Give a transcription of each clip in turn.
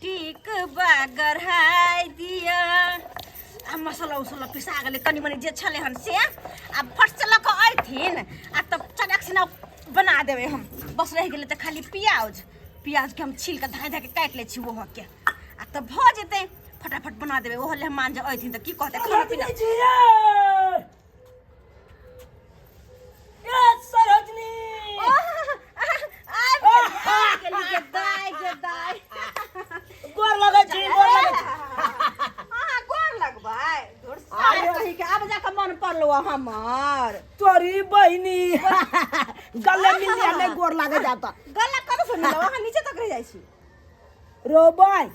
टिक बागर हाय दिया आ मसला उसला पिसा गेलै कनि मनि जे छलै हन से आ फट से लऽ कऽ अयथिन आ तब चटक सिना बना देबै हम बस रहि गेलै तऽ खाली प्याज प्याजके हम छील कऽ धाय धाय कऽ काटि लै छी ओहोके आ तब भऽ जेतै फटाफट बना देबै ओहो ले हम मान जे अयथिन तऽ की कहतै खाना पीना पड़लो हमार तोरी बहनी गले मिल जाने गोर लागे जाता गला कब सुन लो नीचे तक रह जाई छी रोबन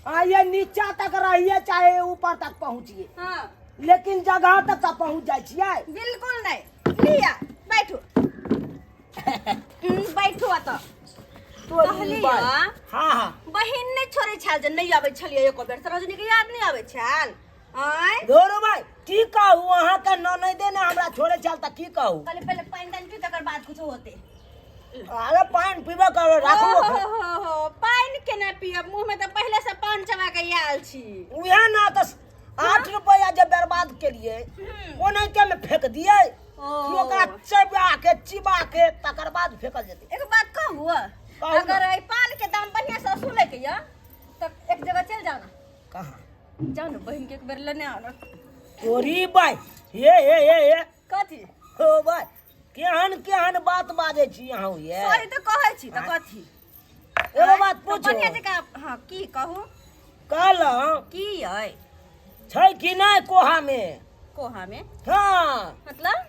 आ ये नीचा तक रहिए चाहे ऊपर तक पहुँचिए हाँ लेकिन जगह तक का पहुँच जाए छियै बिल्कुल नहीं लिया बैठो हम्म, बैठो आ तो तो कहली ई बात- हँ? हाँ हाँ बहिन नहि छोड़ै छल जे नहि आबै छलियै एको बेर से रजनी के याद नहि आबै छल आय धोरो भाई की कहू अहाँ के ननदे ने हमरा छोड़े चल त की कहू पहले पहले पानी दान पी तकर बाद कुछ होते अरे पान पीबे करो राखू ओहो ओकरा। हो हो पानी केना पियब मुंह में तो पहले से पान चबा के आयल छी उहे ना त आठ रुपया जे बर्बाद केलिए ओ नहीं के में फेंक दिए ओ। कि ओकरा चबा के चिबा के तकर बाद फेंकल जेतै एगो बात कहू कहू ना। अगर एहि पान के दाम बढ़िया से सुने के य तो एक जगह चल जाना कहाँ जाऊ न बहिन के एक बेर लेने आउ न तोरी बाय हे हे हे हे कथी हो बाय केहन केहन बात बाजै छी अहाँ ये सॉरी त कहै छी त कथी एगो बात त पूछो बढ़िया जकाँ हाँ की कहू कहलहुँ की अइ छै कि नहि कोहामे कोहा में हाँ मतलब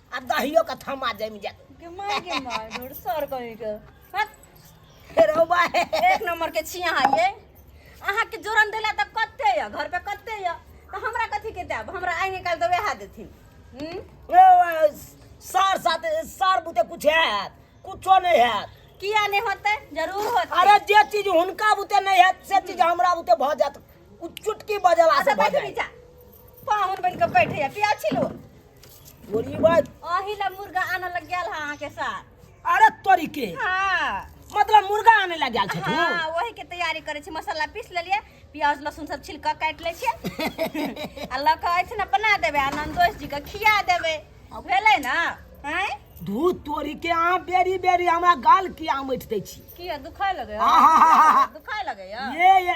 आ दहियो के थमा जम जात के मार के मार ढोर सर कहीं के हट, फेरो बा एक नंबर के छिया है अहाँ के जोरन देला त कत्ते य घर पे कत्ते य त हमरा कथी के देब हमरा आगे काल त वैहा देथिन हम्म ओ, सर साथ सर बुते कुछ हैत कुछो नहीं हैत किया नहीं होते जरूर होते अरे जे चीज हुनका बुते नहीं हैत से चीज हमरा बुते भ जात उ चुटकी बजला से अच्छा भ बैठ जात नीचा पाहुन बन के बैठे या पिया छिलो बोली बात अही ला मुर्गा आने लग गेल है अहाँ के साथ अरे तोरी के हाँ मतलब मुर्गा आने लग गेल छै तू हाँ वही के तैयारी करे छी मसाला पीस लेलिए प्याज लहसुन सब छिलक काट ले छी आ लऽ कऽ ऐसे ने बना देबे आ नंदोष जी के खिया देबे भेलै ना हैं धू तोरी के अहाँ बेरी बेरी हमरा गाल किया मटि दै छी की दुखाय लगे आहा। दुखाय लगे ये ये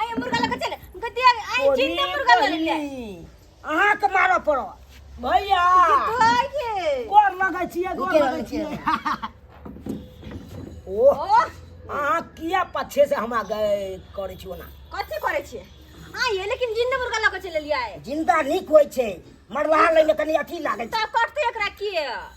आय मुर्गा लग चले गद्दी आय जिंदा मुर्गा ले ले अहाँ के मारो पड़ो भैया भाई के गोर लगे छिए गोर लगे छिए ओ ओ अहाँ किया पछे से हम आगे करे छियो ना कथी करे छिए आय लेकिन जिंदा मुर्गा लग चले लिया है जिंदा निक होय छै मरला लगे कनी अथी लागे छै ता कटते एकरा किए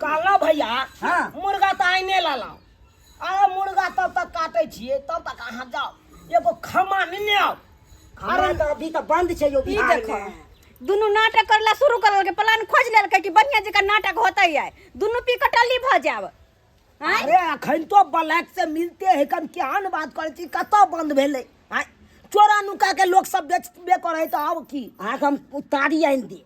कहलहुँ भैया हाँ। मुर्गा तऽ आइने लेलहुँ अरे मुर्गा तब तक काटै छियै तब तक अहाँ जाउ एगो खम्मा नेने आउ हमरा तऽ अभी तऽ बंद छै यो ई बिहार देखो में दुनू नाटक करला शुरू कर लेलकै प्लान खोज लेलकै कि बढ़िया जकाँ नाटक होतै आइ दुनू पी कऽ टल्ली भऽ जाब आँय? अरे अखन तो ब्लैक से मिलते है कम केहन बात करै छी कतऽ बंद भेलै आँय? चोरा नुका के लोग सब बेचबे करै है तऽ आब की अहाँके हम उतारी आनि दी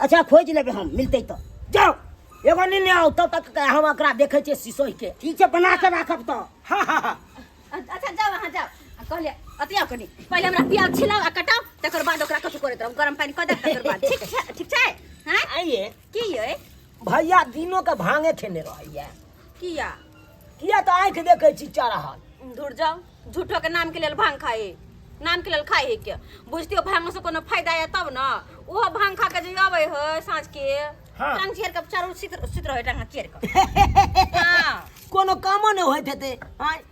अच्छा खोज लेबे हम मिलते तो जाओ एगो नहीं आओ तब तक के हम एकरा देखे छे शीशो के ठीक छै बना के राखब तो हां हां हां अच्छा जाओ अहाँ जाओ आ कहले अतिया कनी पहिले हमरा प्याज छिलाओ आ कटाओ तकर बाद ओकरा कछु करैत रहू गरम पानी कऽ दे तकर बाद ठीक छै ठीक छै हैं आइए की ये भैया दिनो के भांगे खेने रहैया किया किया तो आंख देखे छी चढ़ल धुर जाओ झूठो के नाम के लेल भांग खाए नाम के लेल खाए है के बुझते हो भांग से कोनो फायदा है तब ना ओहो भांग खा के जे आवे है साँझ के हाँ। टांग चेर के चारू सित सित रहे टांग चेर के हाँ कोनो कामो नहीं होइत हेतै आँय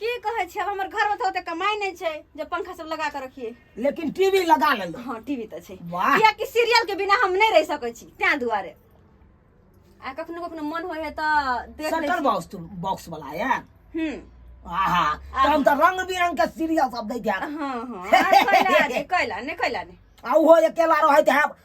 की कहै छै हमर घर में तो ओते कमाई नहीं छै जे पंखा सब लगा के रखिए लेकिन टीवी लगा ले हां टीवी तो छै वाह किया कि सीरियल के बिना हम नहीं रह सके छी त्या दुआरे आ कखनो कखनो मन होय है तो देख ले सटल बॉक्स तो बॉक्स वाला है हम आहा तो हम तो रंग बिरंग के सीरियल सब देख जा हां हां कैला ने कैला ने आ वो अकेला रहत है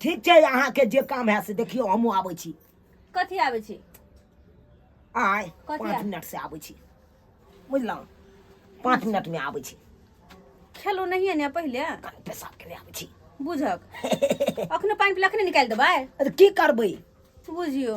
ठीक छै अहाँके जे काम है से देखियौ हमहूँ आबै छी कथी आबै छी आय कथी पाँच आबै- मिनट से आबै छी बुझलहुँ पाँच मिनट में आबै छी खेलो नहिए ने पहिले कनि पेशाब केने आबै छी बुझक अखने पानि पीला अखने निकालि देबै अरे की करबै बुझियो